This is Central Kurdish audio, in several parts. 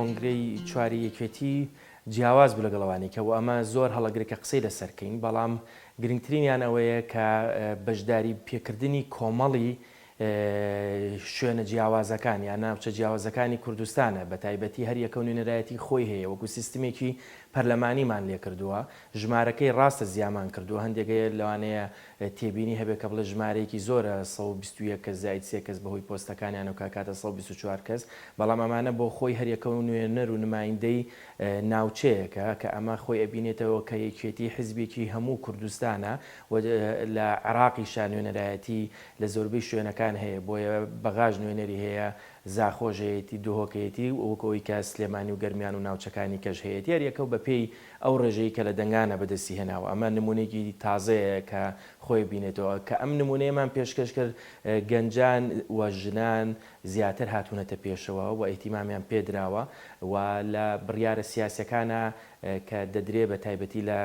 کۆنگرەی چواری یەکێتی جیاواز بوو لەگەڵ ئەوانی کە و ئەمە زۆر هەڵەگرە کە قسەی لەسەر کەین بەڵام گرنگترینیان ئەوەیە کە بەشداری پێکردنی کۆمەڵی شوێنە جیاوازەکان یان ناوچە جیاوازەکانی کوردستانە، بەتایبەتی هەر یەکە نوێنەرایەتی خۆی هەیە، وەکو سیستمێکی پەرلەمانیمان لێ کردووە، ژمارەکەی ڕاستە زیامان کردووە، هەندێک هەیە لەوانەیە تێبینی هەبێت کە بڵێت ژمارەیەکی زۆرە سەد و بیست و یەک کەس زائید سێ کەس بەهۆی پۆستەکانیانەوە کە ئەکاتە سەد و بیست و چوار کەس، بەڵام ئەمانە بۆ خۆی هەر یەکە نوێنەر و نمایندەی ناوچەیەکە کە ئەمە خۆی ئەبینێتەوە کە یەکێتی حیزبێکی هەموو کوردستانە و لە عێراقیشا نوێنەرایەتی لە زۆربەی شوێنەکان هەیە بۆیە بەغاش نوێنەری هەیە زاخۆش هەیەتی دهۆک هەیەتی وەک ئەوەی کە سلێمانی و گەرمیان و ناوچەکانی کەش هەیەتی هەر یەکەو بە پێی ئەو ڕێژەی کە لە دەنگانە بەدەستی هێناوە ئەمە نمونەیەکی تازەیە کە خۆی بینێتەوە کە ئەم نمونەیەمان پێشکەش کرد گەنجان و ژنان زیاتر هاتونەتە پێشەوە و ئیهتیمامیان پێدراوە و لە بڕیارە سیاسیەکانا کە دەدرێ بە تایبەتی لە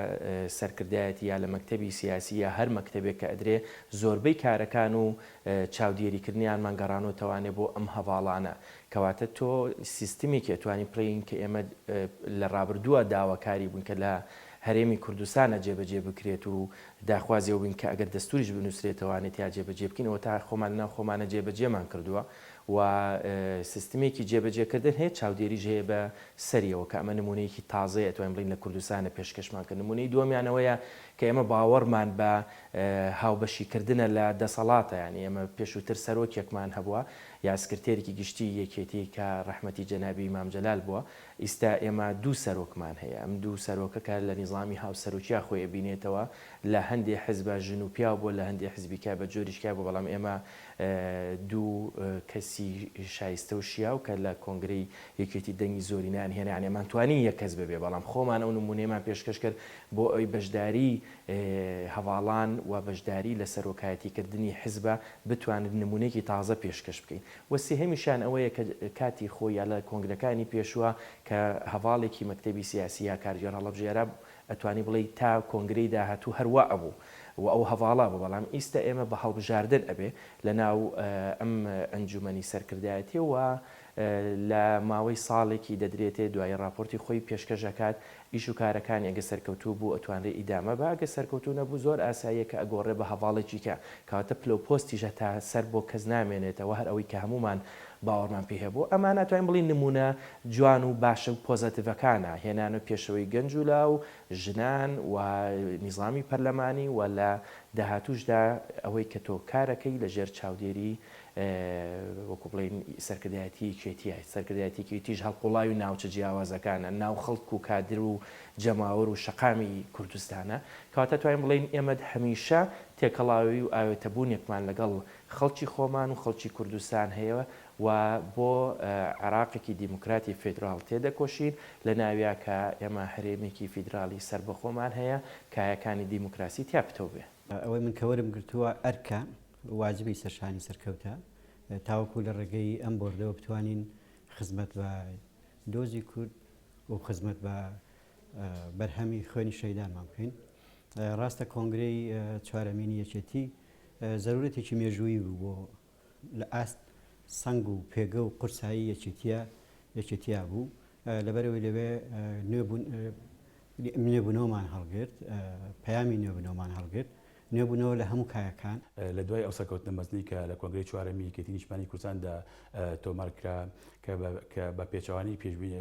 سەرکردایەتی یا لە مەکتەبی سیاسی یا هەر مەکتەبێک کە ئەدرێ زۆربەی کارەکان و چاودێری کردنیانمان گەڕانەوە تەوانێ بۆ ئەم هەڤاڵانە کەواتە تۆ سیستمێکی ئەتوانی پڵێین کە ئێمە لە ڕابردووە داواکاری بوون کە لە هەرێمی کوردستانە جێبەجێ بکرێت و داخوازی ئەوین کە ئەگەر دەستوریش بنووسرێتەوانێت یا جێبەجێ بکەین ئەوە تا خۆمان لەناو خۆمانە جێبەجێمان کردووە و سیستمێکی جێبەجێکردن هەیە چاودێریش هەیە بە سەریەوە کە ئەمە نموونەیەکی تازەیە ئەتوانین بڵێین لە کوردستانە پێشکەشمان کرد نموونەی دووەمیان ئەوەیە کە ئێمە باوەڕمان بە هاوبەشیکردنە لە دەسەڵاتە یانی ئێمە پێشووتر سەرۆکێکمان هەبووە یا سکرتێرێکی گشتی یەکێتی کە ڕەحمەتی جەنابی مام جەلال بووە ئیستا ئێمە دوو سەرۆکمان هەیە ئەم دوو سەرۆکە کە لە نیزامی هاوسەرۆکیا خۆی ئەبینێتەوە لە هەندێ حزبە ژن و پیاو بووە لە هەندێ حزبیکە بە جۆریشکا بووە بەڵام ئێمە دوو کەسی شایستە و شیاو کە لە کۆنگرەی یەکێتی دەنگی زۆرینەیان هێنا یان نەمانتوانی یەک کەس ببێ بەڵام خۆمان ئەو نموونەیەمان پێشکەش کرد بۆ ئەوەی بەشداری هەڤاڵان و بەشداری لە سەرۆکایەتی کردنی حزبە بتوانێت نموونەیەکی تازە پێشکەش بکەین و سێهەمیشیان ئەوەیە کە کاتی خۆی یا لە کۆنگرەکانی پێشوە کە هەڤاڵێکی مەکتەبی سیاسی یا کارگێڕ هەڵەبژێرا ئەتوانی بڵێی تا کۆنگرەی داهاتوو هەر وا ئەبوو و ئەو هەڤاڵە بوو، بەڵام ئیستە ئێمە بە هەڵبژاردن ئەبێ لە ناو ئەم ئەنجومەنی سەرکردایەتیە و لە ماوەی ساڵێکی دەدرێتێ دوایی ڕاپۆرتی خۆی پێشکەش ئەکات ئیش و کارەکانی ئەگە سەرکەوتوو بوو ئەتوانرێ ئیدامە بە ئەگە سەرکەوتوو نەبوو زۆر ئاساییە کە ئەگۆڕێ بە هەڤاڵێکی کە کەواتە پلە و پۆستیش هەتا سەر بۆ کەس نامێنێتەوە هەر ئەوەی کە هەموومان باوەڕمان پێی هەبوو ئەمانە ئەتوانین بڵێین نموونە جوان و باشە و پۆزەتڤەکانە، هێنانەوەی پێشەوەی گەنج و لاو، ژنان و نیزامی پەرلەمانی و لە داهاتووشدا ئەوەی کە تۆ کارەکەی لە ژێر چاودێری وەکوو بڵێین سەرکردایەتی یەکێتییە، سەرکردایەتی یەکێتیش هەڵقوڵاوی ناوچە جیاوازەکانە، ناو خەڵک و کادر و جەماوەر و شەقامی کوردستانە، کەواتە توانین بڵێین ئێمە هەمیشە تێکەڵاوی و ئاوێتەبوونێکمان لەگەڵ خەڵکی خۆمان و خەڵکی کوردستان هەیە و بۆ عێراقێکی دیموکراتی فیدراڵ تێدەکۆشین، لەناویا کە ئێمە هەرێمێکی فیدراڵی سەربەخۆمان هەیە، کایەکانی دیموکراسی تیا پتەو بێ. ئەوەی من کە وەرم گرتووە ئەرکە واجبی سەرشانی سەرکەوتە تاوەکو لە ڕێگەی ئەم بۆردەوە بتوانین خزمەت بە دۆزی کورد و خزمەت بە بەرهەمی خوێنی شەهیدانمان بکەین. ڕاستە کۆنگرەی چوارەمینی یەکێتی، زەرورەتێکی مێژوویی بوو بۆ لە ئاست سەنگ و پێگە و قورسایی یەکێتییە یەکێتییە بوو لەبەرەوەی لەوێ نوێ بوون نوێبوونەوەمان هەڵگرت پەیامی نوێبوونەوەمان هەڵگرت نوێبوونەوە لە هەموو کایەکان لە دوای ئەو سەرکەوتنە مەزنی کە لە کۆنگرەی چوارەمی یەکێتی نیشتمانی کوردستاندا تۆمارکرا کە بە پێچەوانەی پێشبینی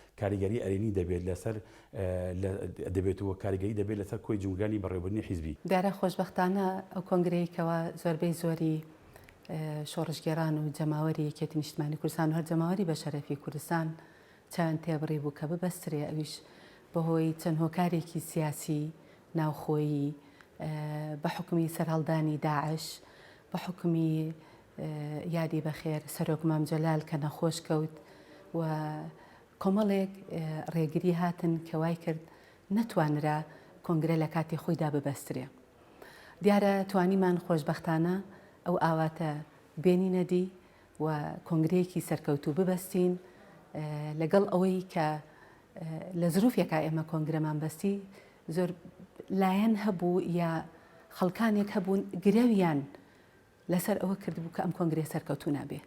کاریگەری ئەرێنی دەبێت لەسەر دەبێت و کاریگەری دەبێت لەسەر کۆی جومگانی بەڕێوەبردنی حیزبی. دیارە خۆشبەختانە ئەو کۆنگرەی کەوا زۆربەی زۆری شۆڕشگێڕان و جەماوەری یەکێتی نیشتمانی کوردستان و هەر جەماوەری بەشەرەفی کوردستان چاویان تێبڕی بوو کە ببەسترێ ئەویش بەهۆی چەند هۆکارێکی سیاسی ناوخۆیی بە حوکمی سەرهەڵدانی داعش بە حوکمی یادی بەخێر سەرۆک مام جەلال کە نەخۆش کەوت و کۆمەڵێک ڕێگری هاتن کە وای کرد نەتوانرا کۆنگرە لە کاتی خۆیدا ببەسترێ. دیارە توانیمان خۆشبەختانە ئەو ئاواتە بێنینە دی و کۆنگرەیەکی سەرکەوتوو ببەستین لەگەڵ ئەوەی کە لە زروفێکا ئێمە کۆنگرەمان بەستی زۆر لایەن هەبوو یا خەڵکانێک هەبوون گرەویان لەسەر ئەوە کردبوو کە ئەم کۆنگرەیە سەرکەوتوو نابێ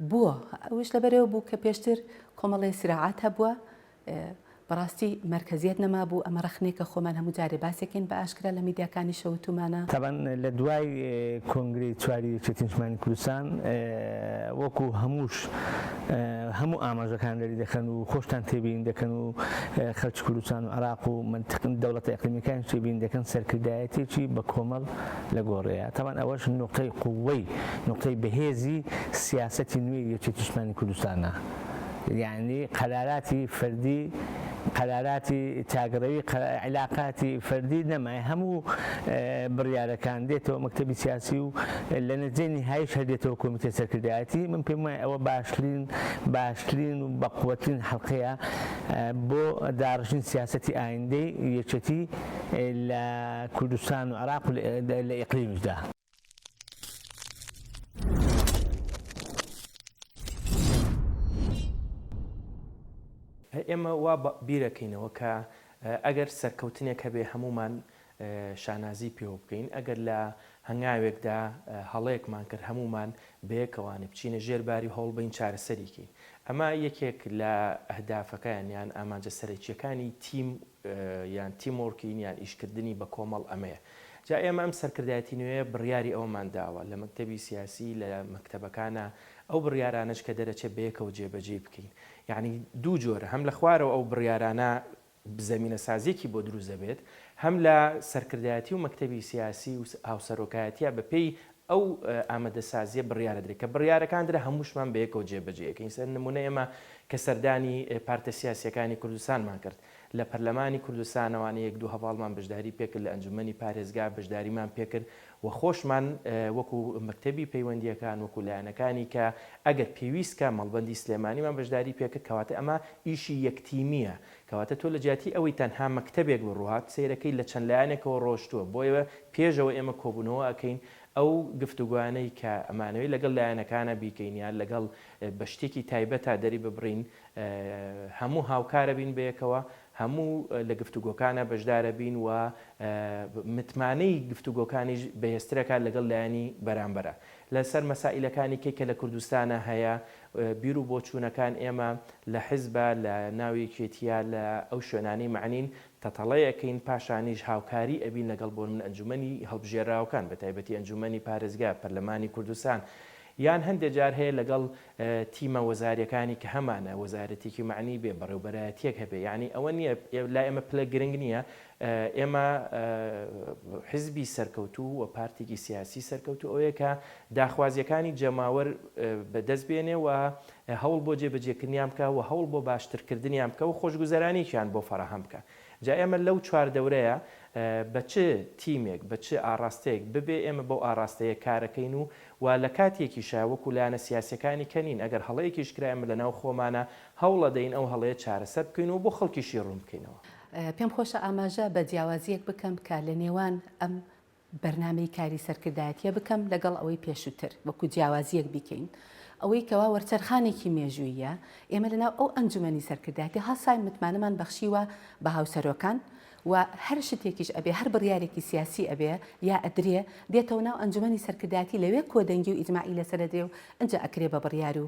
بووە ئەوش لەبەرەوە بوو کە پێشتر کۆمەڵی سراعات هەبووە بەڕاستی مەرکزیت نەمابوو ئەمە ڕخنێکە خۆمان هەموو جارێ باسێکین بە ئاشکرا لە میدیاکانی شەوتومانە. تابان لە دوای کۆنگرەی چواری یەکێتی نیشتمانی کوردستان وەکو هەمووش هەموو ئاماژەکان دەری دەکەن و خۆشتان تێبین دەکەن و خەلکی کوردستان و عراق و دەوڵەتە ئەقلیمیەکانیش تێبین دەکەن سەرکردایەتێکی بە کۆمەڵ لە گۆڕێیە تاوان ئەوەش نوقتەی قووەی نوقتەی بەهێزی سیاسەتی نوێی یەکێتی نیشتمانی کوردستانە یانی قەراراتی فەردی قەراراتی تاگڕەوی علاقاتی فەردی نەمای هەموو بڕیارەکان دێتەوە مەکتتەبی سیاسی و لە نەجێ نهایش هەردێتەوە کۆمیتە سەرکردایەتی من پێم وایە ئەوە باشترین باشترین و بەقوەترین حەڵقەیە بۆ داڕشتنی سیاسەتی ئایندەی یەکێتی لە کوردستان و عراق لە ئیقلیمشدا. ئێمە وا بیرەکەینەوە کە ئەگەر سەرکەوتنێک هەبێ هەموومان شانازی پێوە بکەین ئەگەر لە هەنگاوێکدا هەڵەیەکمان کرد هەموومان بەیەکەوانێ بچینە ژێر باری هەوڵ بین چارەسەریکەین ئەمە یەکێک لە ئەهدافەکانیان ئامانجە سەرەکیەکانی تیم یان تیم وۆرکین یان ئیشکردنی بە کۆمەڵ ئەمەیە جا ئێمە ئەم سەرکردایەتی نوێیە بڕیاری ئەوەمان داوە لە مەکتەبی سیاسی لە مەکتەبەکانا ئەو بڕیارانەش کە دەرەچێ بەیەکەوە جێبەجێی بکەین یانی دوو جۆرە هەم لە خوارەوە ئەو بڕیارانە زەمینە سازیەکی بۆ دروست دەبێت هەم لە سەرکردایەتی و مەکتەبی سیاسی و هاوسەرۆکایەتیە بە پێی ئەو ئامادەسازیە بڕیارە درێت کە بڕیارەکان درا هەمووشمان بەیەکەوە جێبەجێیەکەین سەر نمونە ئێمە کە سەردانی پارتە سیاسیەکانی کوردستانمان کرد لە پەرلەمانی کوردستانەوە نە یەک دوو هەڤاڵمان بەشداری پێکرد لە ئەنجومەنی پارێزگا بەشداریمان پێکرد و خۆشمان وەکو مەکتەبی پەیوەندیەکان وەکو لایەنەکانی کە ئەگەر پێویست کە مەڵبەندی سلێمانیمان بەشداری پێکرد کەواتە ئەمە ئیشی یەک تیمیە کەواتە تۆ لەجیاتی ئەوەی تەنها مەکتەبێک بڕوات سەیرەکەی لە چەند لایەنێکەوە ڕۆشتووە بۆیە پێش ئەوەی ئێمە کۆبوونەوە ئەکەین ئەو گفتوگۆیانەی کە ئەمانەوێت لەگەڵ لایەنەکانە بیکەین یان لەگەڵ بە شتێکی تایبەتا دەریببڕین هەموو هاوکارەبین بەیەکەوە هەموو لە گفتوگۆکانە بەشدارەبین و متمانەی گفتوگۆکانیش بەهێزترەکات لەگەڵ لایەنی بەرامبەرە لەسەر مەسائیلەکانی کەی کە لە کوردستانا هەیە بیر و بۆچوونەکان ئێمە لە حیزبا لە ناو یەکێتییا لە ئەو شوێنانەی مەعنین تەتەڵەی ئەکەین پاشانیش هاوکاری ئەبین لەگەڵ بۆ نمونە ئەنجومەنی هەڵبژێراوەکان بە تایبەتی ئەنجومەنی پارێزگا پەرلەمانی کوردستان یان هەندێ جار هەیە لەگەڵ تیمە وەزاریەکانی کە هەمانە وەزارەتێکی مەعنی بێ بەڕێوبەرایەتیەک هەبێ یانی ئەوە نیە لا ئێمە پلە گرنگ نیە ئێمە حزبی سەرکەوتوو و پارتێکی سیاسی سەرکەوتوو ئەوەیە کە داخوازییەکانی جەماوەر بە دەست بێنێ و هەوڵ بۆ جێبەجێکردنیان بکا و هەوڵ بۆ باشترکردنیان بکا و خۆشگوزەرانییەکیان بۆ فەراهەم بکا. جا ئێمە لەو چواردەورەیە بە چ تیمێک، بە چ ئاڕاستەیەک ببێ ئێمە بەو ئاڕاستەیە کارەکەین و و لە کاتێکیشا وەکوو لایەنە سیاسییەکانی کە نین ئەگەر هەڵەیەکیش کرا ئێمە لەناو خۆمانا هەوڵەدەین ئەو هەڵەیە چارەسەر بکەین و بۆ خەڵکیشی ڕوون بکەینەوە. پێم خۆشە ئاماژە بە جیاوازییەک بکەم کە لە نێوان ئەم بەرنامەی کاری سەرکردایەتییە بکەم لەگەڵ ئەوەی پێشووتر، وەکو جیاوازییەک بیکەین، ئەوەی کەوا وەرچەرخانێکی مێژووییە، ئێمە لەناو ئەو ئەنجومەنی سەرکردایەتی هەساین متمانەمان بەخشیوە بە هاوسەرۆکان و هەر شتێکیش ئەبێ، هەر بڕیارێکی سیاسی ئەبێ یا ئەدرێ، دێتەوە ناو ئەنجومەنی سەرکردایەتی لەوێ کۆدەنگی و ئیجماعی لەسەر ئەدرێ و ئنجا ئەکرێ بە بڕیار و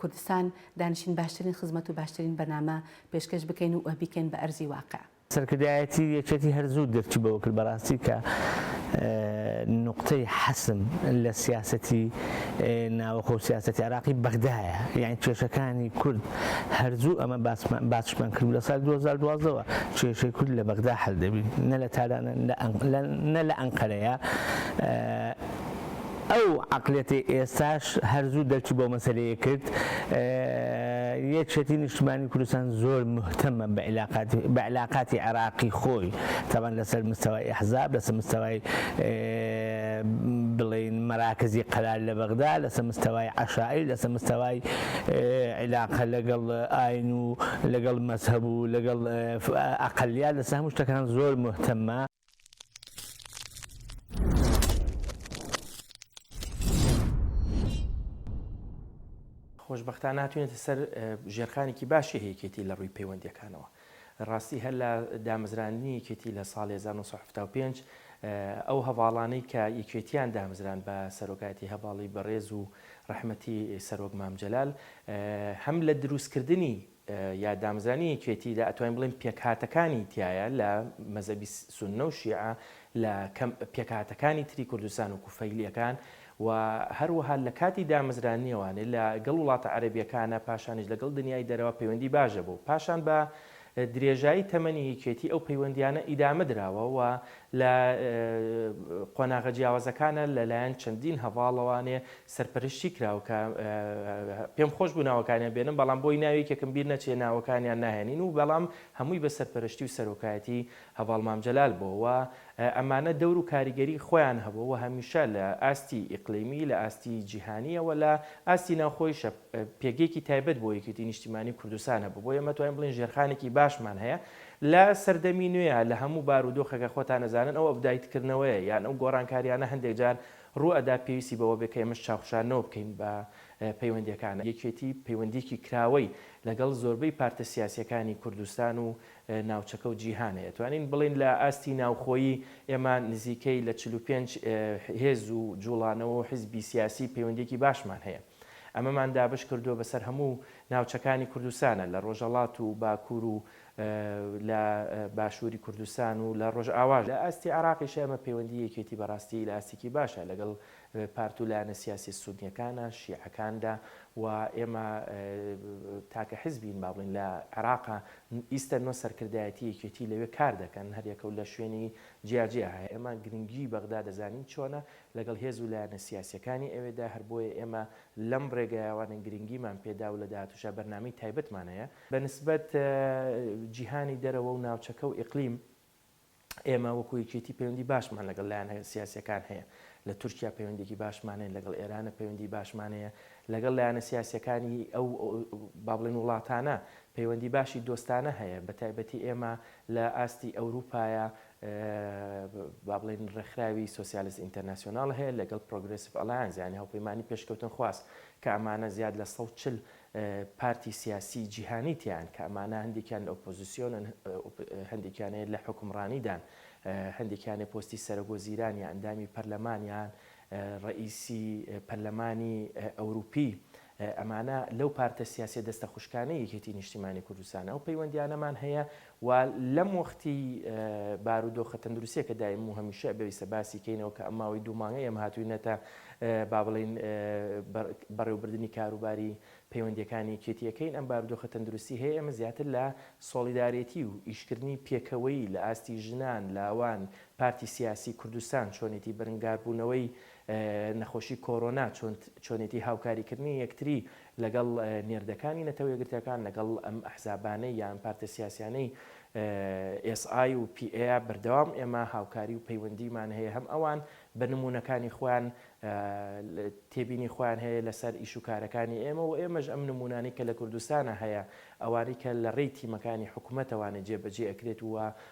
کوردستان دانیشین باشترین خزمەت و باشترین بەرنامە پێشکەش بکەین و بیکەین بە ئەرزی واقع. سەرکردایەتی یەکێتی هەر زوو درکی بەوە کرد بەڕاستی کە نوقتەی حەسم لە سیاسەتی ناوەخۆ و سیاسەتی عێراقی بەغدایە یانی کێشەکانی کورد هەر زوو ئەمە باسمان کرد لە ساڵی 2012 وە کێشەی کورد لە بەغدا حەل دەبین نە لە تارانە نە لە ئەنقەرەیە ئەو عەقڵیەتەی ئێستاش هەر زوو دەرکی بەو مەسەلەیە کرد یەکێتی نیشتمانی کوردستان زۆر مهتەمە بە علاقاتی بە علاقاتی عێراقی خۆی تاوان لەسەر مستەوای ئەحزاب لەسەر مستەوای بڵێن مەراکزی قەرار لە بەغدا لەسەر مستەوای عەشایر لەسەر مستەوای علاقە لەگەڵ ئاین و لەگەڵ مەزهەب و لەگەڵ ئەقلیات لەسەر هەموو شتەکان زۆر مهتەمە خۆشببختان ناتوانێتە سەر ژێرخانێکی باشی هەیەکێتی لە ڕووی پەیوەندەکانەوە ڕاستی هەر لە دامەزرانی یەکێتی لە ساڵ 1975 ئەو هەواڵانەی کە یەکێتیان دامزران بە سەرۆکایەتی هەواڵی بەڕێز و ڕەحمەتی سەرۆک مامجلال هەم لە دروستکردنی یا دامزرانی یەکێتی لە ئەتوانین بڵێین پێکهاتەکانی تیایە لە مەزەبی سوننە و شیعە لە پێکهاتەکانی تری کوردستان و کوفەیلیەکان و هەروەها لە کاتی دامزرانیەوانێ لە گەڵ وڵاتە عەربیەکانە پاشانیش لەگەڵ دنیای دەرەوە پەیوەندی باشە بوو پاشان بە درێژایی تەمەنی یەکێتی ئەو پەیوەندیانە ئیدامە دراوە و لە قۆناغە جیاوازەکانە لەلایەن چەندین هەواڵەوانێ سەرپەرشتی کراو کە پێم خۆش بوو ناوەکانیان بێنم بەڵام بۆی ناوی یەکێکم بیر نەچێ ناوەکانیان ناهێنین و بەڵام هەمووی بە سەرپەرشتی و سەرۆکایەتی هەڤاڵ مام جەلال بۆ و ئەمانە دەور و کاریگەری خۆیان هەبوو و هەمیشە لە ئاستی ئیقلیمی لە ئاستی جیهانیەوە لە ئاستی ناوخۆیشە پێگەیەکی تایبەت بۆ یەکێتی نیشتیمانی کوردستان هەبوو بۆ ئێمە توانین بڵین ژێرخانێکی باشمان هەیە لە سەردەمی نوێە لە هەموو بار و دۆخەکە خۆتان نەزانن ئەو ئەبدایتکردنەوەیە یان ئەو گۆڕانکاریانە هەندێک جار ڕوو ئەدا پێویستی بەوە بێت کە ئێمەش چاوخشاندنەوە بکەین بە پەیوەندییەکان. یەکێتی پەیوەندییەکی کراوەی لەگەڵ زۆربەی پارتە سیاسییەکانی کوردستان و ناوچەکە و جیهان هەیە. توانین بڵێین لە ئاستی ناوخۆیی ئێمە نزیکەی لە چل و پێنج هێز و جووڵانەوە و حیزبی سیاسی پەیوەندییەکی باشمان هەیە. ئەمەمان دابەش کردووە بەسەر هەموو ناوچەکانی کوردستانە لە ڕۆژەڵات و باکوور و لە باشووری کوردستان و لە ڕۆژئاواش. لە ئاستی عێراقیش ئێمە پەیوەندی یەکێتی بەڕاستی لە ئاستێکی باشە لەگەڵ پارت و لایەنە سیاسیە سونیەکانە، شیعەکاندا و ئێمە تاکە حزبین با بڵێین لە عێراقا ئیستە نۆ سەرکردایەتی یەکێتی لەوێ کار دەکەن هەریەکەو لە شوێنی جیاجیا هەیە ئێمە گرنگی بەغدا دەزانین چۆنە لەگەڵ هێز و لایەنە سیاسییەکانی ئەوێدا، هەر بۆیە ئێمە لەم ڕێگایوانە گرنگیمان پێدا و لە داهاتووشا بەرنامەی تایبەتمان هەیە. بە نسبەت جیهانی دەرەوە و ناوچەکە و ئیقلیم، ئێمە وەکو یەکێتی پەیوەندی باشمان لەگەڵ لایەنە سیاسییەکان هەیە، لە تورکیا پەیوەندییەکی باشمان هەیە، لەگەڵ ئێرانە پەیوەندی باشمان هەیە، لەگەڵ لایەنە سیاسییەکانی ئەو با بڵێین وڵاتانە پەیوەندی باشی دۆستانە هەیە، بە تایبەتی ئێمە لە ئاستی ئەوروپایا با بڵێین ڕێکخراوی سۆسیالست ئینتەرناسیۆنال هەیە لەگەڵ پرۆگرێسڤ ئەلایانس یانی هەوپەیمانی پێشکەوتنخواز کە ئەمانە زیاد لە سەد و چل پارتی سیاسی جیهانی تیان کە ئەمانە هەندێکیان لە ئۆپۆزیسیۆنن هەندێکیان هەیە لە حکومڕانیدان هەندێکیانێ پۆستی سەرۆکوەزیران یا ئەندامی پەرلەمانیان ڕئیسی پەرلەمانی ئەوروپی ئەمانە لەو پارتە سیاسیە دەستە خوشکانەی یەکێتی نیشتیمانی کوردستانە ئەو پەیوەندیانەمان هەیە و لەم وەختی بارودۆخە تەندروستیەکە دایم و هەمیشە بەویسە باسی کەینەوە کە ئەم ماوەی دوومانگە ئێمە هاتوینەتە با بڵین بەڕێوبردننی کاروباری پەیوەندیەکانی کێتیەکەین ئەم بارودۆخە تەندروستی هەیە ئەمە زیاتر لە سۆڵیدارێتی و ئیشکردنی پێکەوەی لە ئاستی ژنان لاوان پارتی سیاسی کوردستان چۆنێتی بەرنگاربوونەوەی نەخۆشی کۆرۆنا چۆنێتی هاوکاریکردنی یەکتری لەگەڵ نێردەکانی نەتەوە یەکگرتووەکان لەگەڵ ئەم ئەحزابانەی یا ئەم پارتە سیاسیانەی ئێس ئای و پی ئێە بەردەوام ئێمە هاوکاری و پەیوەندیمان هەیە هەم ئەوان بە نموونەکانی خۆیان تێبینی خۆیان هەیە لەسەر ئیش و کارەکانی ئێمە و ئێمەش ئەم نمونانی کە لە کوردستانە هەیە ئەوانی کە لە ڕێی تیمەکانی حکوومەتەوانە جێبەجێ ئەکرێت وە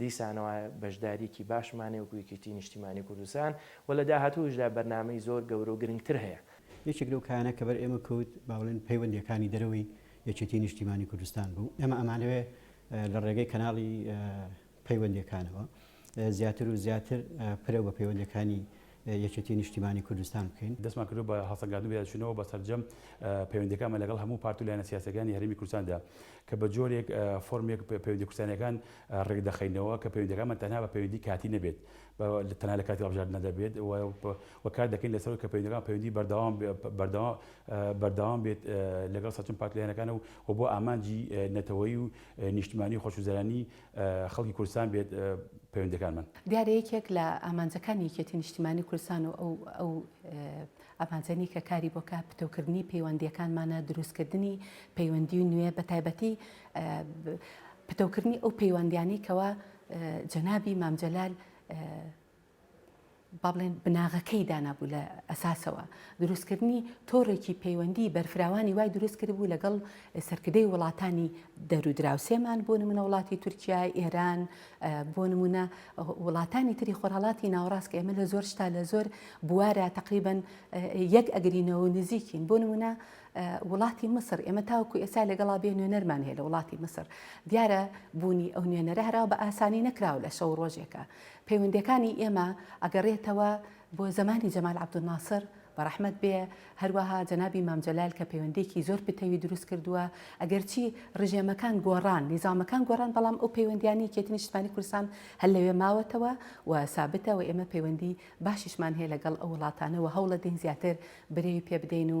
دیسانەوە بەشدارییەکی باشمانەیە وەکو یەکێتی نیشتیمانی کوردستان و لە داهاتووشدا بەرنامەی زۆر گەورە و گرنگتر هەیە. یەکێک لەو کایانە کە بەر ئێمە کەوت با بڵێن پەیوەندییەکانی دەرەوەی یەکێتی نیشتیمانی کوردستان بوو. ئێمە ئەمانەوێ لە ڕێگەی کەناڵی پەیوەندییەکانەوە زیاتر و زیاتر پرە بە پەیوەندییەکانی یەکێتی نیشتیمانی کوردستان بکەین. دەستمان کردووە بە هەڵسەنگاندن و یادچوونەوە بە سەرجەم پەیوەندییەکانمان لەگەڵ هەموو پارت و لایەنە سیاسییەکانی هەرێمی کوردستاندا کە بە جۆرێک فۆرمێک پەیوەندییە کوردستانییەکان ڕێک دەخەینەوە کە پەیوەندییەکانمان تەنها بە پەیوەندی کاتی نەبێت بە تەنها لە کاتی هەڵبژاردنەدا بێت و کار دەکەین لەسەر ئەوەی کە پەیوەندییەکانمان پەیوەندی بەردەوام بەردەوام بەردەوام بێت لەگەڵ سەرجەم پارت و لایەنەکان و بۆ ئامانجی نەتەوەیی و نیشتمانی و خۆشگوزەرانی خەڵکی کوردستان بێت پەیوەندیەکانمان. دیارە یەکێک لە ئامانجەکانی یەکێتی نیشتیمانی کوردستان و ئەو ئەو ئامانجەنی کە کاری بۆ کا پتەوکردنی پەیوەندیەکانمانە دروستکردنی پەیوەندی و نوێ بە تایبەتی پتەوکردنی ئەو پەیوەندیانی کەوا جەنابی مام جەلال با بڵێن بناغەکەی دانابوو لە ئەساسەوە، دروستکردنی تۆڕێکی پەیوەندیی بەرفراوانی وای دروست کردبوو لەگەڵ سەرکردەی وڵاتانی دەر و دراوسێمان، بۆ نموونە وڵاتی تورکیا، ئێران، بۆ نموونە وڵاتانی تری خۆرهەڵاتی ناوەڕاست کە ئێمە لە زۆر شتا لە زۆر بوارا تەقریبەن یەک ئەگرینەوە و نزیکین، بۆ نموونە وڵاتی میسر، ئێمە تاوەکوو ئێستا لەگەڵا بێ نوێنەرمان هەیە لە وڵاتی میسر، دیارە بوونی ئەو نوێنەرە هەر ئەوا بە ئاسانی نەکراوە لە شەو و ڕۆژێکا. پەیوەندیەکانی ئێمە ئەگەڕێتەوە بۆ زەمانی جەمال عەبدولناسر، بەڕەحمەت بێ، هەروەها جەنابی مام جەلال کە پەیوەندیەکی زۆر پتەوی دروست کردووە، ئەگەرچی ڕژێمەکان گۆڕان، نیزامەکان گۆڕان، بەڵام ئەو پەیوەندیانە یەکێتی نیشتمانی کوردستان هەر لەوێ ماوەتەوە و سابتە و ئێمە پەیوەندی باشیشمان هەیە لەگەڵ ئەو وڵاتانە و هەوڵەدەین زیاتر برەوی پێبدەین و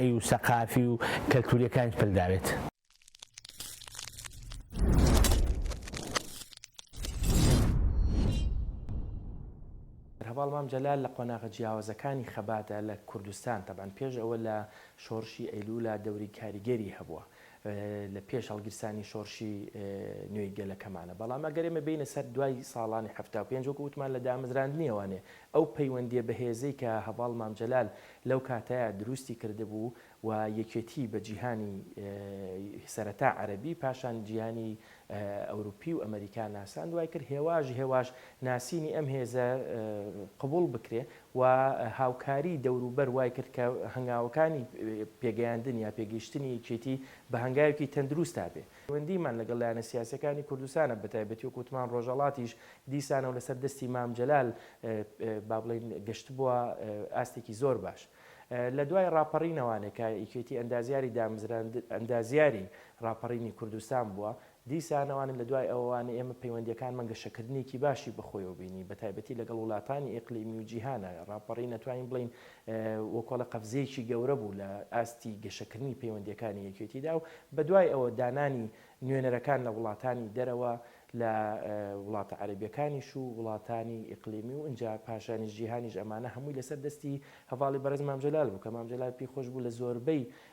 ی و سەقافی و کەلتوریەکانیت پل داوێت. هەڤاڵ مام جەلال لە قۆناغە جیاوازەکانی خەباتە لە کوردستان تەبعەن پێش ئەوە لە شۆڕشی ئەیلولا دەوری کاریگەری هەبووە لە پێش هەڵگیرسانی شۆڕشی نوێی گەلەکەمانە، بەڵام ئەگەر ئێمە بێینە سەر دوای ساڵانی حەفتا و پێنج وەکو وتمان لە دامەزراندنی ئەوانێ ئەو پەیوەندیە بەهێزەی کە هەڤاڵ مام جەلال لەو کاتەیا دروستی کردبوو و یەکێتی بە جیهانی سەرەتا عەرەبی پاشان جیهانی ئەوروپی و ئەمەریکا ناساند وای کرد هێواش هێواش ناسینی ئەم هێزە قبوڵ بکرێ و هاوکاریی دەوروبەر وای کرد کە هەنگاوەکانی پێگەیاندن یا پێگەیشتنی یەکێتی بە هەنگاوێکی تەندروست تا بێ. پەیوەندیمان لەگەڵ لایەنە سیاسییەکانی کوردستانە، بەتایبەتی وەکوو وتمان ڕۆژهەڵاتیش دیسانەوە لەسەر دەستی مام جەلال با بڵێین گەشتبووە ئاستێکی زۆر باش. لە دوای ڕاپەڕینەوانێک کە یەکێتی ئەندازیاری دامزراند ئەندازیاری ڕاپەڕینی کوردستان بووە، دیسان ئەوانن لە دوای ئەوان ئێمە پەیوەندییەکانمان گەشەکردنێکی باشی بەخۆیەوە بینی بە تایبەتی لەگەڵ وڵاتانی ئیقلیمی و جیهان ڕاپەڕین ئەتوانین بڵێین وەکۆڵە قەفزەیەکی گەورە بوو لە ئاستی گەشەکردنی پەیوەندییەکانی یەکێتیدا و بە دوای ئەوە دانانی نوێنەرەکان لە وڵاتانی دەرەوە لە وڵاتە عەرەبیەکانیش و وڵاتانی ئیقلیمی و ئینجا پاشانیش جیهانیش ئەمانە هەمووی لەسەر دەستی هەڤاڵی بەڕێز مام جەلال بوو کە مام جەلال پێی خۆش بوو لە زۆربەی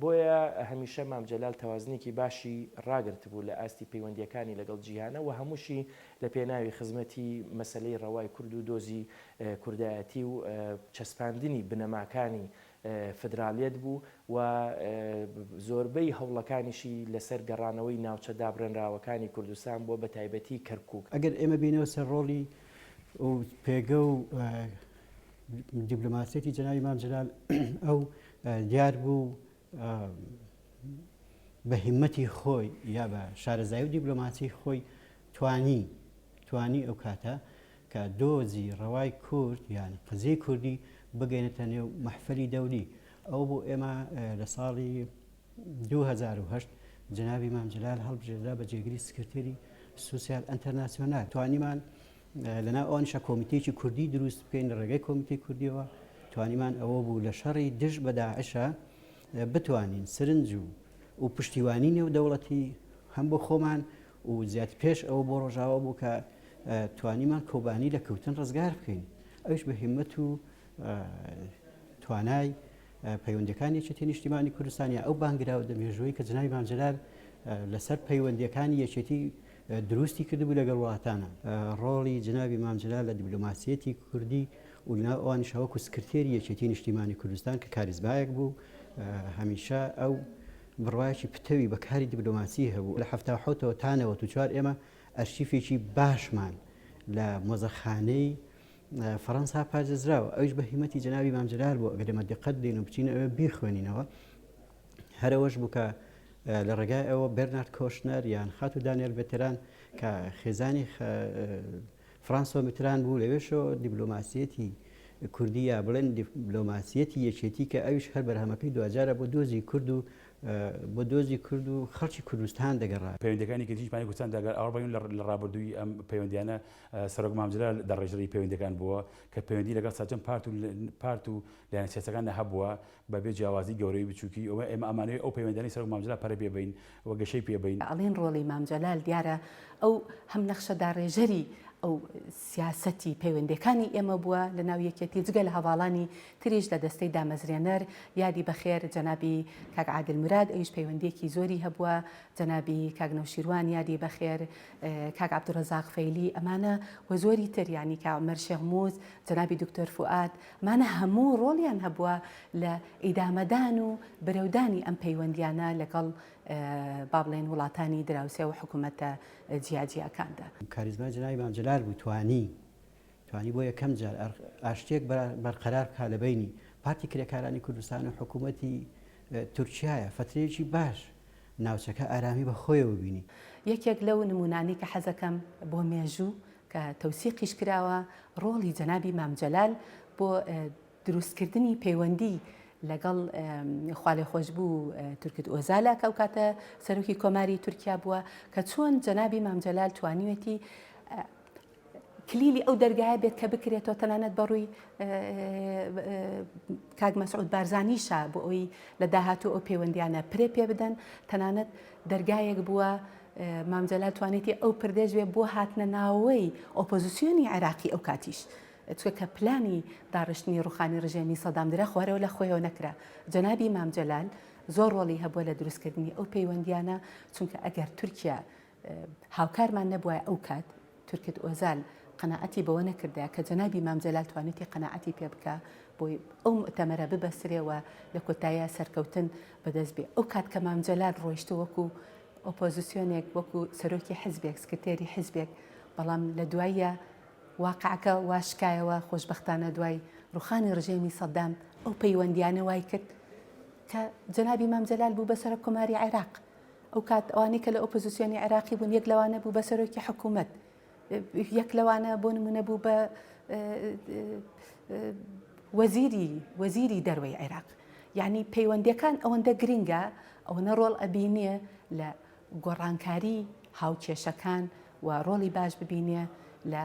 بۆیە هەمیشە مام جەلال تەوازنێکی باشی ڕاگرتبوو لە ئاستی پەیوەندییەکانی لەگەڵ جیهانە و هەمووشی لە پێناوی خزمەتی مەسەلەی ڕەوای کورد و دۆزی کوردایەتی و چەسپاندنی بنەماکانی فدرالیەت بوو و زۆربەی هەوڵەکانیشی لەسەر گەڕانەوەی ناوچە دابڕێنراوەکانی کوردستان بووە بە تایبەتی کەرکووک. ئەگەر ئێمە بێینەوە سەر ڕۆڵی ئەو پێگە و دیبلۆماسیەتی جەنابی مام جەلال ئەو دیار بوو بە هیمەتی خۆی یا بە شارەزای و دیبلۆماسی خۆی توانی توانی ئەو کاتە کە دۆزی ڕەوای کورد یان قزیی کوردی بگەێنێتە نێو مەحفلی دەولی ئەو بۆ ئێمە لە ساڵی 2010 جنابی مام جلال هەڵبژێردا بە جێگری سکرتێری سوسیال ئەتەناسیۆنال توانیمان لەناو ئەوانیشە کۆمیتەیەکی کوردی دروست بکەین لە ڕێگەی کۆمیتەی کوردیەوە توانیمان ئەوە بوو لە شەڕی دژ بە داعشە بتوانین سرنج و و پشتیوانی نێو دەوڵەتی هەم بۆ خۆمان و زیات پێش ئەوە بۆ ڕۆژاوە بوو کە توانیمان کۆبانی لە کەوتن ڕزگار بکەین ئەوش بە هیمەت و توانای پەیوەندەکانی چێتی نیشتیمانی کوردستانیا ئەو بانگراوە دەمێژووی کە جنای بانجلال لەسەر پەیوەندەکانی یەکێتی دروستی کردبوو لەگەڵ وڵاتانا. ڕۆڵی جەنابی مام جەلال لە دیبلۆماسییەتی کوردی و لەناو ئەوانیشا وەکوو سکرتێری یەکێتیی نیشتیمانی کوردستان کە کاریزمایەک بوو، هەمیشە ئەو بڕوایەکی پتەوی بە کاری دیبلۆماسی هەبوو. لە حەفتا و حەوتەوە تا نەوەد و چوار ئێمە ئەرشیفێکی باشمان لە مۆزەخانەی فەڕەنسا پاردێزراوە، ئەویش بە هیمەتی جەنابی مام جەلال بوو، ئەگەر ئێمە دقەت بدەین و بچینە ئەوێ بیخوێنینەوە، هەر ئەوەش بوو کە لە ڕێگای ئەوە بێرنارد کۆشنەر یان خاتوو دانیێل بێتران کە خێزانی فرانسۆ میتران بوو لەوێشەوە دیبلۆماسیەتی کوردی یا بڵێن دیبلۆماسیەتی یەکێتی کە ئەویش هەر بەرهەمەکەی دوجارە بۆ دۆزی کورد و بۆ دۆزی کورد و خەڵکی کوردستان دەگەڕا پەیوەندەکانی کەجیش پانی کوردستان داگەر ئاڕبەیون لە ڕابردووی ئەم پەیوەندیانە سەرۆک مامجلال دەڕێژەری پەیوەندەکان بووە کە پەیوەندی لەگەڵ سەرجەم پارت و پارت و لایەنە سیاسەکاندا هەبووە بە بێ جیاوازی گەورەی بچوکی، ئەوە ئێمە ئەمانەوێ ئەو پەیوەندیانەی سەرۆک مام جەلال پەرە پێ بەین و گەشەی پێ بەین. ئەڵێن ڕۆڵی مام جەلال دیارە ئەو هەم نەخشە داڕێژەری ئەو سیاسەتی پەیوەندێکانی ئێمە بووە لە ناو یەکێتی و جگە لە هەڤاڵانی تریش لە دەستەی دامەزرێنەر یادی بە خێر جەنابی کاک عادل مراد ئەویش پەیوەندیەکی زۆری هەبووە جەنابی کاک نەوشیروان یادی بە خێر کاک عبدالرزاق فەیلی ئەمانە و زۆری تر یانی کاک عومەر شێخ موس جەنابی دکتۆر فوئاد مانە هەموو ڕۆڵیان هەبووە لە ئیدامەدان و برەودانی ئەم پەیوەندیانە لەگەڵ با بڵێن وڵاتانی دراوسێ و حکومەتە جیاجیاکاندا. کاریزمای جەنابی مام جەلال بوو توانی توانی بۆ یەکەم جار ئاشتیەک بەرقەرار بکات لە بەینی پارتی کرێکارانی کوردستان و حکومەتی تورکیایە فەترەیەکی باش ناوچەکە ئارامی بە خۆیەوە بینی. یەکێک لەو نموونانەی کە حەزەکەم بۆ مێژوو کە تەوسیقیش کراوە ڕۆڵی جەنابی مام جەلال بۆ دروستکردنی پەیوەندی لەگەڵ خوالێخۆشبوو تورکت ئۆزالە کە ئەو کاتە سەرۆکی کۆماری تورکیا بووە کە چۆن جەنابی مام جەلال توانیوێتی کلیلی ئەو دەرگایە بێت کە بکرێتەوە تەنانەت بەڕووی کاک مەسعود بارزانیشە بۆ ئەوی لە داهاتوو ئەو پەیوەندیانە پرێ پێ بدەن تەنانەت دەرگایەک بووە مام جەلال توانیتی ئەو پردێش بێ بۆ هاتنە ناوەوەی ئۆپۆزیسیۆنی عێراقی ئەو کاتیش چکە کە پلانی داڕشتنی ڕوخانی ڕژێمی سەدام درا خوارەوە لە خۆیەوە نەکرا جەنابی مام جەلال زۆر ڕۆڵی هەبووە لە دروستکردنی ئەو پەیوەندیانە چونکە ئەگەر تورکیا هاوکارمان نەبووە ئەو کات تورکت ئۆزال قەناعەتی بەوە نەکردایە کە جەنابی مام جەلال توانیوتی قەناعەتی پێ بکا بۆی ئەو موئتەمەرە ببەسرێ و لە کۆتاییا سەرکەوتن بە دەست بێ ئەو کات کە مام جەلال ڕۆیشتە وەکوو ئۆپۆزیسیۆنێک وەکوو سەرۆکی حیزبێک سکرتێری حیزبێک بەڵام لە دواییا واقعەکە وا شکایەوە خۆشبەختانە دوای ڕوخانی ڕژێمی سەدام ئەو پەیوەندیانە وای کرد کە جەنابی مام جەلال بوو بە سەرۆک کۆماری عێراق ئەوکات ئەوانەی کە لە ئۆپۆزیسیۆنی عێراقی بوون یەک لەوانە بوو بە سەرۆکی حکوومەت یەک لەوانە بۆ نمونە بوو بە وەزیری وەزیری دەروەی عێراق یعنی پەیوەندەکان ئەوەندە گرنگە ئەوەنە ڕۆڵ ئەبینێ لە گۆڕانکاری هاوکێشەکان و ڕۆڵی باش ببینێ لە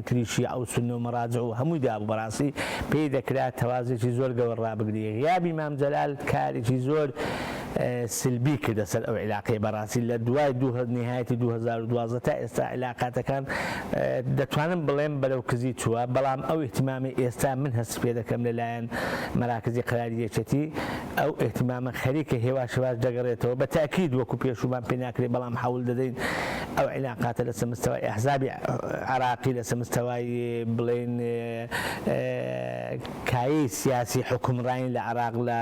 تریشی ئەو سنە و مەراجع و هەمووی دابوو بەڕاستی پێی دەکرا تەوازێکی زۆر گەور ڕابگری غیابی مام جەلال کارێکی زۆر سلبی کردە سەر ئەو عیلاقەیە بەڕاستی لە دوای دوو هە نهایەتی دوو هەزار و دوازدە تا ئێستا عیلاقاتەکان دەتوانم بڵێم بەرەو کزی چووە بەڵام ئەو ئیهتیمامی ئێستا من هەستی پێ دەکەم لەلایەن مەراکزی قەراری یەکێتی ئەو ئیهتمامە خەریکە هێواش هێواش دەگەڕێتەوە، بە تەئکید وەکو پێشوومان پێ ناکرێ بەڵام حەول دەدەین ئەو عیلاقاتە لە سەر مستەوای ئەحزابی عێراقی لە سەر مستەوای بڵێین کایەی سیاسی حوکمڕانی لە عێراق لە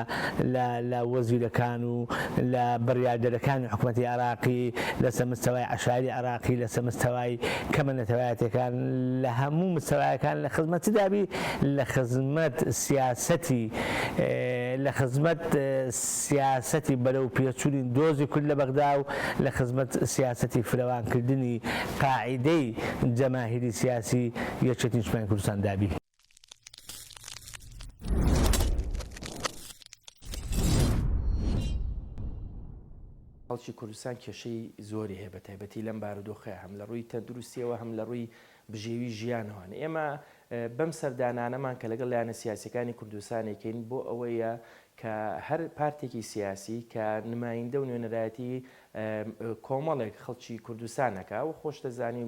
لە لە وەزیرەکان و لە بڕیاردەرەکانی حکوومەتی عێراقی لە سەر مستەوای عەشایری عێراقی لە سەر مستەوای کەمە نەتەوایەتەکان لە هەموو مستەوایەکان لە خزمەتدابی لە خزمەت سیاسەتی لە خزمەت سیاسەتی بەرەو پێچوونی دۆزی کورد لە بەغدا و لە خزمەت سیاسەتی فرەوان کردنی قاعیدەی جەماهیری سیاسی یەکێتی نیشتمانی کوردستان دا بی. خەڵکی کوردستان کێشەی زۆری هەیە بە تایبەتی لەم بارودۆخەیە هەم لە ڕووی تەندروستیەوە هەم لە ڕووی بژێوی ژیانەوەن. ئێمە بەم سەردانانەمان کە لەگەڵ لایەنە سیاسیەکانی کوردستان ئەکەین بۆ ئەوەیە کە هەر پارتێکی سیاسی کە نمایندە و نوێنەرایەتی کۆمەڵێک خەڵکی کوردستان ئەکا و خۆشت دەزانی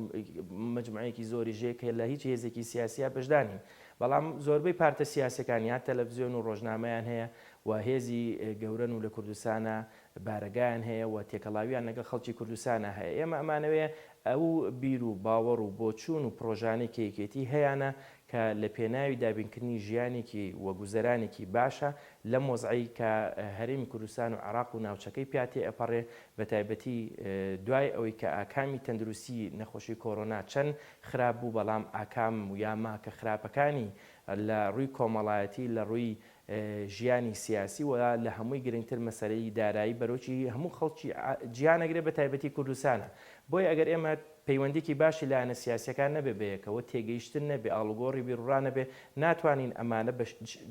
مجموعەیەکی زۆری ژێ کە لە هیچ هێزێکی سیاسیە بەشدار نین بەڵام زۆربەی پارتە سیاسەکان یا تەلەڤزیۆن و ڕۆژنامەیان هەیە و هێزی گەورەن و لە کوردستانە بارەگایان هەیە و تێکەڵاویان لەگەڵ خەڵکی کوردستانا هەیە، ئێمە ئەمانەوێ ئەو بیر و باوەڕ و بۆچوون و پڕۆژانەی کە یەکێتیی هەیانە کە لە پێناوی دابینکردنی ژیانێکی و گوزەرانێکی باشە لەم وەزعەی کە هەرێمی کوردستان و عێراق و ناوچەکەی پیا تێئەپەڕێ بە تایبەتی دوای ئەوەی کە ئاکامی تەندروستی نەخۆشی کۆرۆنا چەند خراپ بوو بەڵام ئاکام و یاماکە خراپەکانی لە ڕووی کۆمەڵایەتی لە ڕووی ژیانی سیاسی و لە هەمووی گرنگتر مەسەلەی دارایی بەرۆکی هەموو خەڵکی جیهان ئەگرێ بە تایبەتی کوردستانە بۆیە ئەگەر ئێمە پەیوەندیکی باشی لایەنە سیاسیەکان نەبێ بەیەکەوە تێگەیشتن نەبێ ئاڵوگۆڕی بیروڕا نەبێ ناتوانین ئەمانە بە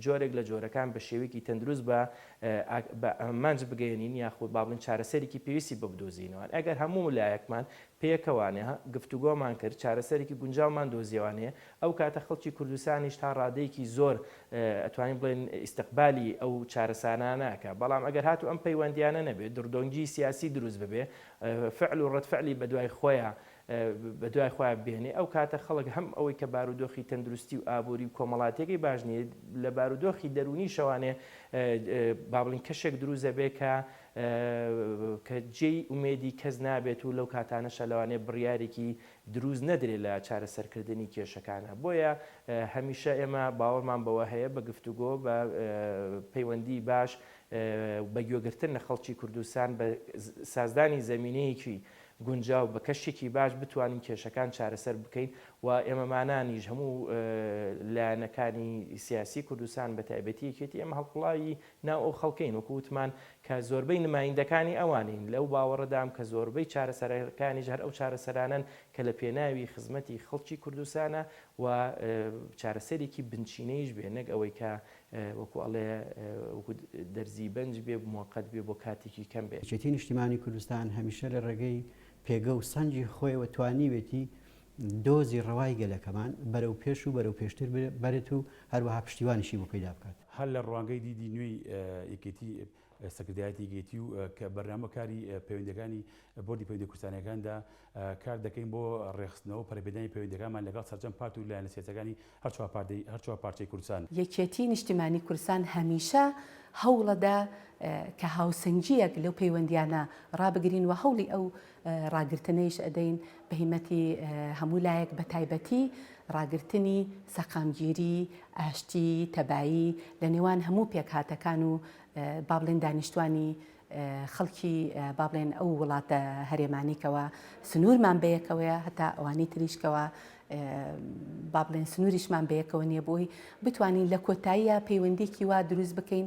جۆرێک لە جۆرەکان بە شێوەیەکی تەندروست بە بە ئامانج بگەیەنین یاخود با بڵێن چارەسەرێکی پێویستی بۆ بدۆزینەوە ئەگەر هەموو لایەکمان پێکەوانە گفتوگۆمان کرد چارەسەرێکی گونجاومان دۆزیەوانەیە ئەو کاتە خەڵکی کوردستانیش تا ڕادەیەکی زۆر ئەتوانین بڵێن ئیستقبالی ئەو چارەسانانە ئەکا بەڵام ئەگەر هاتوو ئەم پەیوەندیانە نەبێ دڕدۆنگی سیاسی دروست ببێ فعل و ڕەدفعلی بەدوای خۆیا بەدوای خۆیا بێنێ ئەو کاتە خەڵک هەم ئەوەی کە بارودۆخی تەندروستی و ئابووری و کۆمەڵاتیەکەی باش نیە لە بارودۆخی دەروونی شەوانێ بابلین کەشێک دروست دەبێ کە کە جێی ئومێدی کەس نابێت و لەو کاتانەشە لەوانێ بڕیارێکی دروست نەدرێت لە چارەسەرکردنی کێشەکانا بۆیە هەمیشە ئێمە باوەڕمان بەوە هەیە بە گفتوگۆ بە پەیوەندی باش و بە گوێگرتن لە خەڵکی کوردستان بە سازدانی زەمینەیەکی گونجاو بە کەشێکی باش بتوانین کێشەکان چارەسەر بکەین و ئێمەمانانیش هەموو لایەنەکانی سیاسی کوردستان بە تایبەتی یەکێتی ئێمە هەڵقوڵاوی ناو ئەو خەڵکەین، وەکو وتمان کە زۆربەی نمایندەکانی ئەوانین، لەو باوەڕەدام کە زۆربەی چارەسەرەکانیش هەر ئەو چارەسەرانەن کە لە پێناوی خزمەتی خەڵکی کوردستانە و چارەسەرێکی بنچینەیش بێ نەک ئەوەی کە وەکو ئەڵێ وەکو دەرزی بەنج بێ موەقەت بێ بۆ کاتێکی کەم بێ. یەکێتی نیشتیمانی کوردستان هەمیشە لە ڕێگەی پێگە و سەنگی خۆیەوە توانیوێتی دۆزی ڕەوای گەلەکەمان بەرەو پێش و بەرەو پێشتر ببەرێت و هەروەها پشتیوانیشی بۆ پەیدا بکات. هەر لە ڕوانگەی دیدی نوێی یەکێتی، سەکردایەتی یەکێتی و بەرنامە کاری پەیوەندیەکانی بۆردی پەیوەندیە کوردستانیەکاندا کار دەکەین بۆ ڕێکخستنەوە و پەرەپێدانی پەیوەندیەکانمان لەگەڵ سەرجەم پارت و لایەنە سیاسیەکانی هەر چوار پارچەی کوردستان. یەکێتی نیشتیمانی کوردستان هەمیشە هەوڵەدا کە هاوسەنگیەک لەو پەیوەندیانە ڕابگرین و هەوڵی ئەو ڕاگرتنەیش ئەدەین بە هیمەتی هەموو لایەک بە تایبەتی ڕاگرتنی سەقامگیری، ئاشتی، تەبایی لە نێوان هەموو پێکهاتەکان و با بڵێن دانیشتوانی خەڵکی با بڵێن ئەو وڵاتە هەرێمانی کەوا سنوورمان بەیەکەوەیە هەتا ئەوانی تریش کەوا با بڵێن سنووریشمان بەیەکەوە نییە بۆی بتوانین لە کۆتاییە پەیوەندیکی وا دروست بکەین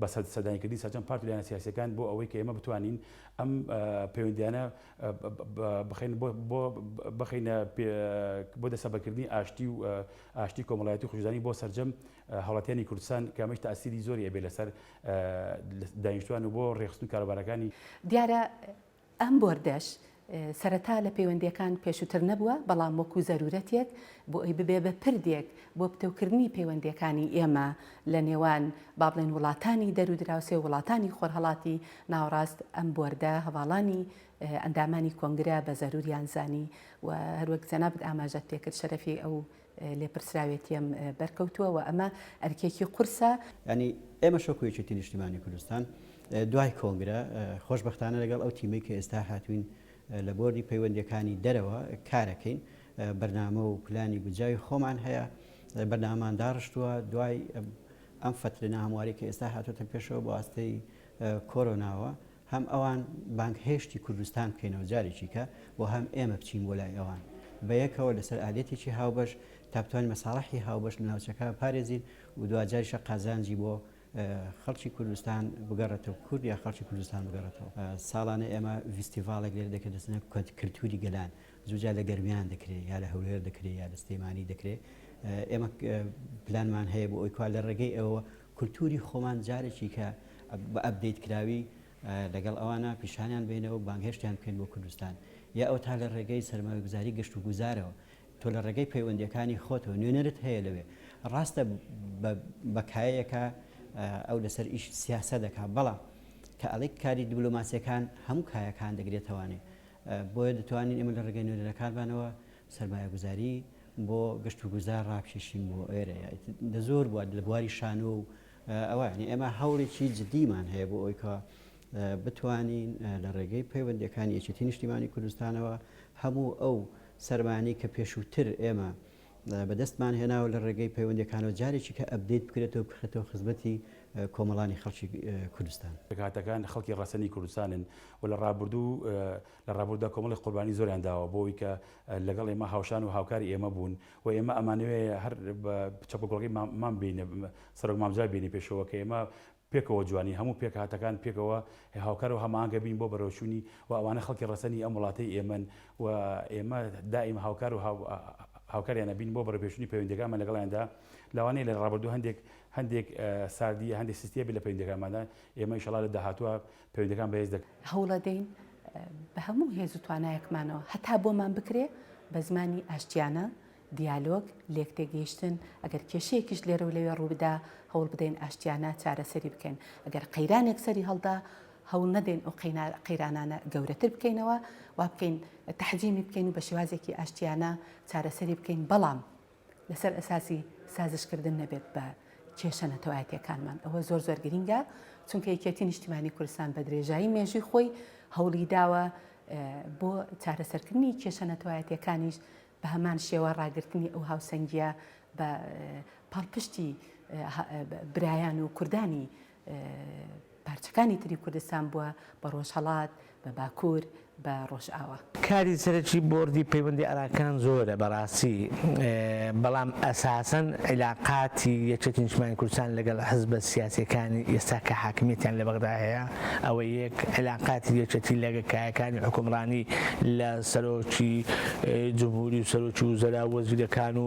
بە سەر سەردانیکردنی سەرجەم پارت و لایەنە سیاسییەکان بۆ ئەوەی کە ئێمە بتوانین ئەم پەیوەندییانە بخەین بۆ بۆ بخەینە بۆ دەسەبەکردنی ئاشتی و ئاشتی کۆمەڵایەتی و خوشکزانی بۆ سەرجەم هاوڵاتیانی کوردستان کە ئەمەش تاسیری زۆری ئەبێ لەسەر دانیشتوان و بۆ ڕێکخستن کاروبارەکانی دیارە ئەم بۆردەش سەرەتا لە پەیوەندییەکان پێشووتر نەبووە، بەڵام وەکو زەروورەتێک بۆ ئەوەی ببێ بە پردێک بۆ پتەوکردنی پەیوەندییەکانی ئێمە لە نێوان با بڵێن وڵاتانی دەرو دراوسێ و وڵاتانی خۆرهەڵاتی ناوەڕاست ئەم بۆردە هەڤاڵانی ئەندامانی کۆنگرە بە زەرووریان زانی و هەروەک جەنابت ئاماژەت پێکرد شەرەفی ئەو لێپرسراوێتییەم بەرکەوتووە و ئەمە ئەرکێکی قورسە. یانی ئێمەش وەکو یەکێتی نیشتیمانی کوردستان دوای کۆنگرە خۆشبەختانە لەگەڵ ئەو تیمەی کە ئێستا هاتووین لە بۆردی پەیوەندییەکانی دەرەوە کارەکەین، بەرنامە و پلانی گونجاوی خۆمان هەیە، بەرنامەمان داڕشتووە دوای ئەم فەترە ناهەموارەی کە ئێستا هاتووەتە پێشەوە بە واستەی کۆرۆناوە. هەم ئەوان بانگهێشتی کوردستان بکەینەوە جارێکیکە و هەم ئێمە بچین بۆ لای ئەوان بەیەکەوە لەسەر ئالیەتێکی هاوبەش تا بتوانین مەساڵحی هاوبەش لە ناوچەکە بپارێزین و دواجاریشە قازانجی بۆ خەڵکی کوردستان بگەڕێتەوە کورد یا خەڵکی کوردستان بگەڕێتەوە ساڵانە ئێمە ڤیستیڤاڵێک لێرە دەکرێت دەستنە کەت کلتوری گەلان زوجا لە گەرمیان دەکرێت یا لە هەولێر دەکرێت یا لە سلێمانی دەکرێت ئێمە پلانمان هەیە بۆ ئەوی کوا لە ڕێگەی ئەوە کلتوری خۆمان جارێکی کە بە ئەپدەیت کراوی لەگەڵ ئەوانە پیشانیان بەینەوە و بانگهێشتیان بکەین بۆ کوردستان یا ئەوتا لە ڕێگەی سەرمایەگوزاری گەشت و گوزارەوە تۆ لە ڕێگەی پەیوەندیەکانی خۆتەوە نوێنەرت هەیە لەوێ ڕاستە بە بە کایەیەکە ئەو لەسەر ئیش سیاسە دەکا بەڵام کە ئەڵێک کاری دیبلۆماسیەکان هەموو کایەکان دەگرێتەوانێ بۆیە دەتوانین ئێمە لە ڕێگەی نوێنەرەکانمانەوە سەرمایەگوزاری بۆ گەشت و گوزار ڕابکێشین بۆ ئێرە دە زۆر بووە لە بواری شانۆ و ئەوە یعنی ئێمە هەوڵێکی جددیمان هەیە بۆ ئەوی کە بتوانین لە ڕێگەی پەیوەندەکانی یەکێتی نیشتیمانی کوردستانەوە هەموو ئەو سەرمانی کە پێشووتر ئێمە بەدەستمان هێناوە لە ڕێگەی پەیوەندەکانەوە جارێکی کە ئەبدەیت بکرێتەوە بخرێتەوە خزمەتی کۆمەڵانی خەڵکی کوردستان پێکهاتەکان خەڵکی ڕەسەنی کوردستانن و لە ڕابردوو لە ڕابوردودا کۆمەڵێک قوربانی زۆریان داوە بۆ ئەوی کە لە گەڵ ئێمە هاوشان و هاوکاری ئێمە بوون و ئێمە ئەمانەوێ هەر بە چەپ و گۆڵی مام مام بینە سەرۆک مام جا بینە پێشەوە کە ئێمە پێکەوە جوانین هەموو پێک هاتەکان پێکەوە هاوکار و هەماهەنگە بین بۆ بەرەوچوونی و ئەوانە خەڵکی ڕەسەنی ئەم وڵاتەی ئێمەن و ئێمە دائیم هاوکار و هاوکاریان ئەبین بۆ بەڕێوپێچوونی پەیوەندیەکانمان لەگەڵیان دا لەوانەیە لە ڕابوردو هەندێک هەندێک ساردیە هەندێک سستیە بێت لە پەیوەندیەکانماندا ئێمە ئیشەڵا لە داهاتوە پەیوەندیەکان بەهێز دەکەین. هەوڵەدەین بە هەموو هێز و توانایەکمانەوە هەتا بۆمان بکرێ بە زمانی ئاشتیانە، دیالۆگ، لێکتێگەیشتن، ئەگەر کێشەیەکیش لێرە و لەوێ ڕووبدا هەوڵ بدەین ئاشتیانە چارەسەری بکەین، ئەگەر قەیرانێک سەری هەڵدا هەوڵ نەدەین ئەو قەیرانانە گەورەتر بکەینەوە، وا بکەین تەحجیمی بکەین و بە شێوازێکی ئاشتیانە چارەسەری بکەین، بەڵام. لەسەر ئەساسی سازش کردن نەبێت بە کێشە نەتەوایەتیەکانمان ئەوە زۆر زۆر گرینگە چونکە یەکێتی نیشتیمانی کوردستان بە درێژایی مێژوی خۆی هەوڵی داوە بۆ چارەسەرکردنی کێشە نەتەوایەتیەکانیش بە هەمان شێوە ڕاگررتنی ئەو هاوسەنگیە بە پاڵپشتی برایان و کوردانی پارچەکانی تری کوردستان بووە بە ڕۆژهەڵات، بە باکوور، بە ڕۆژئاوا. کاری سەرەکی بۆردی پەیوەندی ئاراکان زۆرە بەڕاستی بەڵام ئەساسەن عیلاقاتی یەکێتی نیشتمانی کوردستان لەگەڵ حزبە سیاسیەکانی ئێستا کە حاکمیەتیان لە بەغدا هەیە ئەوە یەک عیلاقاتی یەکێتی لەگە کایەکانی حوکمڕانی لە سەرۆکی جمهوری و سەرۆکی وزەرا و وەزیرەکان و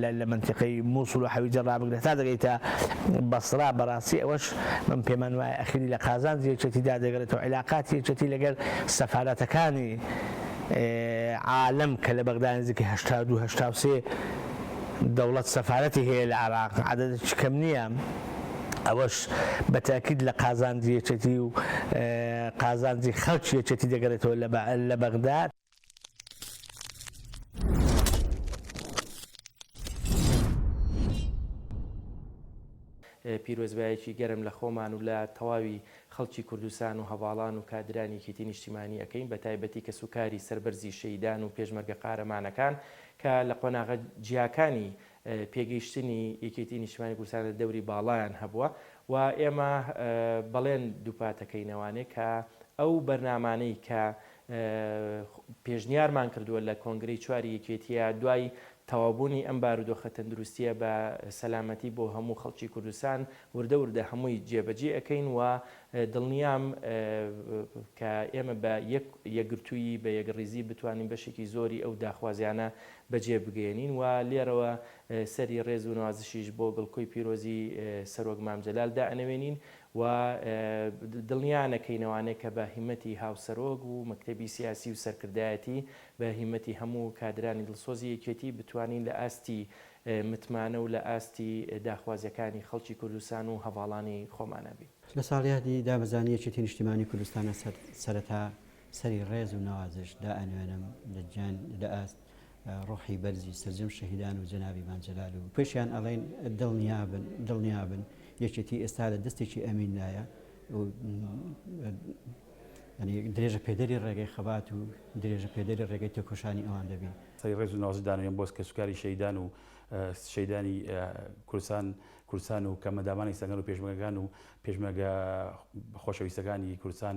لە لە مەنتیقەی موسڵ و حەویجە ڕابگرە تا دەگەیتە بەسڕا بەڕاستی ئەوەش من پێمان وایە ئەخیری لە قازانجی یەکێتی دا دەگەرێتەوە عیلاقاتی یەکێتی لەگەر سەفارەتەکانی عالەم کە لە بەغدا نزیکەی هەشتا و دوو هەشتا و سێ دەوڵەت سەفارەتی هەیە لە عێراق عەدەدێکی کەم نییە ئەوەش بە تاکید لە قازانجی یەکێتی و قازانجی خەڵکی یەکێتی دەگەرێتەوە لە بەغدا پیرۆزبایەکی گەرم لە خۆمان و لە تەواوی خەڵکی کوردستان و هەڤاڵان و کادرانی یەکێتی نیشتیمانی ئەکەین بە تایبەتی کەس و کاری سەربەرزی شەیدان و پێشمەرگە قارەمانەکان کە لە قۆناغە جیاکانی پێگەیشتنی یەکێتی نیشتیمانی کوردستان لە دەوری باڵایان هەبووە و ئێمە بەڵێن دووپاتەکەینەوانێ کە ئەو بەرنامانەی کە پێشنیارمان کردووە لە کۆنگرەی چواری یەکێتییە دوای تەواوبوونی ئەم بارودۆخە تەندروستییە بە سەلامەتی بۆ هەموو خەڵکی کوردستان وردە وردە هەمووی جێبەجێ ئەکەین و دڵنیام کە ئێمە بە یەک یەکگرتوویی بە یەکڕیزی بتوانین بەشێکی زۆری ئەو داخوازیانە بەجێ بگەیەنین و لێرەوە سەری ڕێز و نوازشیش بۆ گڵکۆی پیرۆزی سەرۆک مام جەلال دائەنەوێنین و دڵنیا نەکەین ئەوانەی کە بە هیمەتی هاوسەرۆک و مەکتەبی سیاسی و سەرکردایەتی، بە هیمەتی هەموو کادرانی دڵسۆزی یەکێتی بتوانین لە ئاستی متمانە و لە ئاستی داخوازیەکانی خەڵکی کوردستان و هەڤاڵانی خۆمانا بین. لە ساڵیادی دابەزانی یەکێتی نیشتیمانی کوردستانە سەرەتا سەری ڕێز و نەوازش دائەنوێنم لە جیان لە ئاست ڕۆحی بەرزی سەرجەم شەهیدان و جەنابی مام جەلال و پێشیان ئەڵێن دڵنیابن دڵنیابن یەکێتی ئێستا لە دەستێکی ئەمیندایە درێژە پێدەری ڕێگەی خەبات و درێژە پێدەری ڕێگەی تێکۆشانی ئەوان دەبین سەی ڕێز و نازدانێن بۆس کە سوکاری شەیدان و شەیدانی کورسان کورسان و کەمەدامانی سەگەن و پێشمەگەکان و پێشمەگە خۆشەویستەکانی کورسان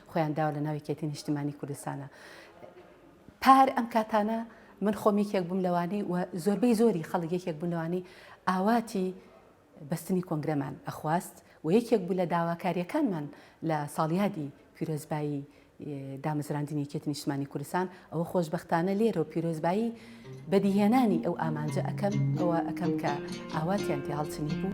خۆیان داوە لە ناو یەکێتی نیشتمانی کوردستانە پار ئەم کاتانە من خۆم یەکێک بووم لەوانی و زۆربەی زۆری خەڵک یەکێک بوون لەوانی ئاواتی بەستنی کۆنگرەمان ئەخواست و یەکێک بوو لە داواکاریەکانمان لە ساڵیادی پیرۆزبایی دامەزراندنی یەکێتی نیشتمانی کوردستان ئەوە خۆشبەختانە لێرەو پیرۆزبایی بەدیهێنانی ئەو ئامانجە ئەکەم، ئەوە ئەکەم کە ئاواتیان پێ هەڵچنی بوو.